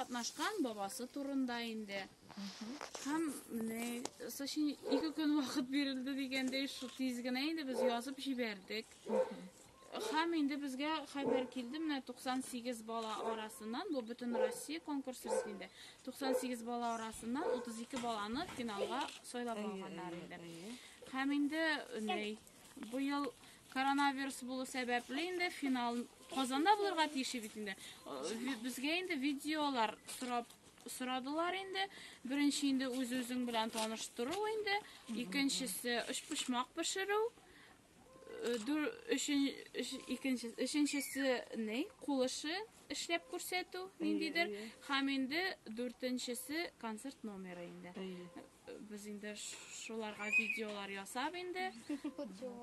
Катнашкан бабасы турында инде. Һәм менә сочи ике көн вакыт бирелде дигәндәй шу тиз генә инде без язып җибәрдек. Һәм инде безгә хәбәр килде менә 98 бала арасыннан бу бөтен Россия конкурсы бит инде. 98 бала арасыннан 32 баланы финалга сайлап алганнар инде. Һәм инде ней Быел коронавирус булу сәбәпле инде финал Казанда булырга тиеш бит инде. Безгә инде видеолар сорап сорадылар инде. Беренче инде үз-үзең белән таныштыру инде, икенчесе өчпочмак пешерү, икенчесе өченчесе ни, кул эше эшләп күрсәтү ниндидер, һәм инде дүртенчесе концерт номеры инде. Без инде шуларга видеолар ясап инде.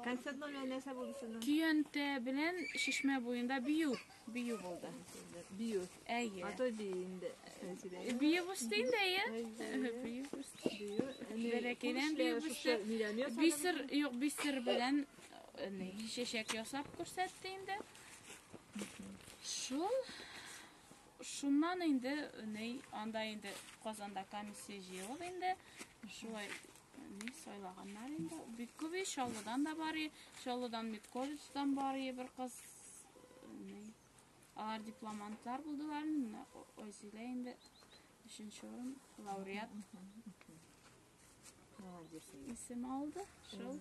Концерт номеры нәрсә булды сезнең? Көянтә белән шишмә буенда бию, бию булды. Бию. Әйе. А то бию инде. Бию булды инде, әйе. Бию булды. Бәләкәйдән бию булды. Бисер, юк, бисер белән не, шешек ясап күрсәтте инде. Шул Шуннан инде ни анда инде Казанда комиссия җыелып инде шулай ни сайлаганнар инде. Бик күп ич Чаллыдан да бар, Чаллыдан Медколледждан бар бер кыз. Ни. Алар дипломантлар булдылар, Айзилә инде өченче урын лауреат. Молодец. Исем алды. Шул.